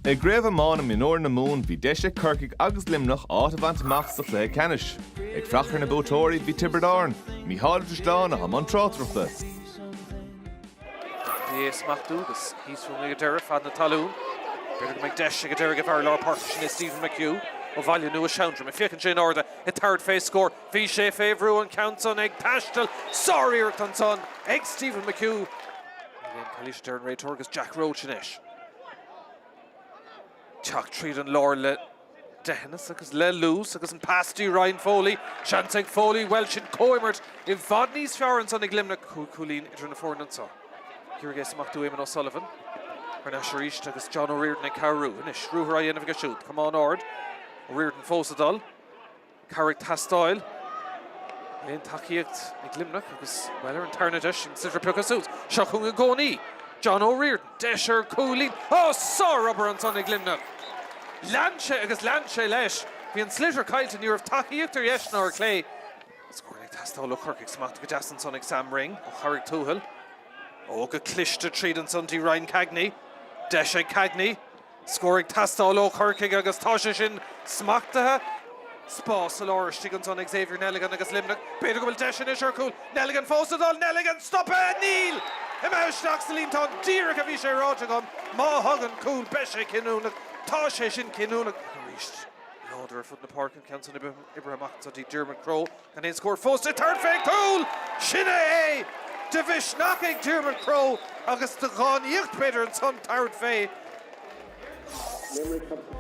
I gCraobh Thiomána Mionúir na Mumhan bhí deis ag Corcaigh agus Luimneach áit a bhaint amach sa chluiche ceannais. Ag fuireach ar na buaiteoirí bhí Tiobraid Árann, Mícheál Ó Drisleáin a bhí i mbun tráchtaireachta. Dheas Mac Dúgas thíos fúm ag an deireadh fad na talún. B'fhéidir go mbeidh deis ag an deiridh a bheith ar lár páirce sin é Stephen McHugh ó Bhaile Nua Sheandroma. Ag féachaint sé in airde ag tabhairt fé scór. Bhí sé fé bhrú an ceann san ag taisteal. Sáriarracht ansan ag Stephen McHugh. Ní haon chalaois a deir an réiteoir agus Jack Roche anois. Teacht tríd an lár le deithneas agus le luas agus an pas dtí Ryan Foley. Seans ag Foley, bhuel, sin comhimirt i bhfad níos fearr ansan ag Luimneach, cúig chúilín idir na foirne anso. Ag iarraidh é a smachtú Éamonn O'Sullivan. Thar n-ais arís agus John O'Riordan ag cabhrú. Anois, ruathar á dhéanamh aige siúd. Camán ard. O'Riordan fós ag dul. Cabhair ag teastáil, aon tacaíocht ag Luimneach agus, bhuel, ar an tarna deis, an sliotar pioctha suas. Seo chugainn i gcónaí John O'Riordan, deis ar chúilín. Ó, sárobair ansan ag Luimneach. Lean sé agus lean sé leis. Bhí an sliotar caillte, ní raibh tacaíocht ar dheis ná ar chlé. Scór ag teastáil ó Chorcaigh. Smacht go deas ansan ag Sam Ring ó Charraig Tuathail. Ó, go cliste tríd ansan dtí Ryan Cagney. Deis ag Cagney. Scór ag teastáil ó Chorcaigh agus tá sé sin smachtaithe. Spás sa lár istigh anso ag Xavier Neligan agus Luimneach. B'fhéidir go bhfuil deis anois ar chúl. Neligan fós ag dul. Neligan stoptha! Níl! Imithe isteach sa líontán díreach a bhí sé ráite agam. Má thagann cúl beidh sé cinniúnach. Tá sé sin cinniúnach arís. Láidir ar fud na páirce an ceann san. Oibrithe amach anso dtí Diarmuid Crowe. Gan aon scór fós le tabhairt fén gcúl, sin é é! De mhisneach ag Diarmuid Crowe agus de dhánaíocht b'fhéidir ansan tabhairt fé.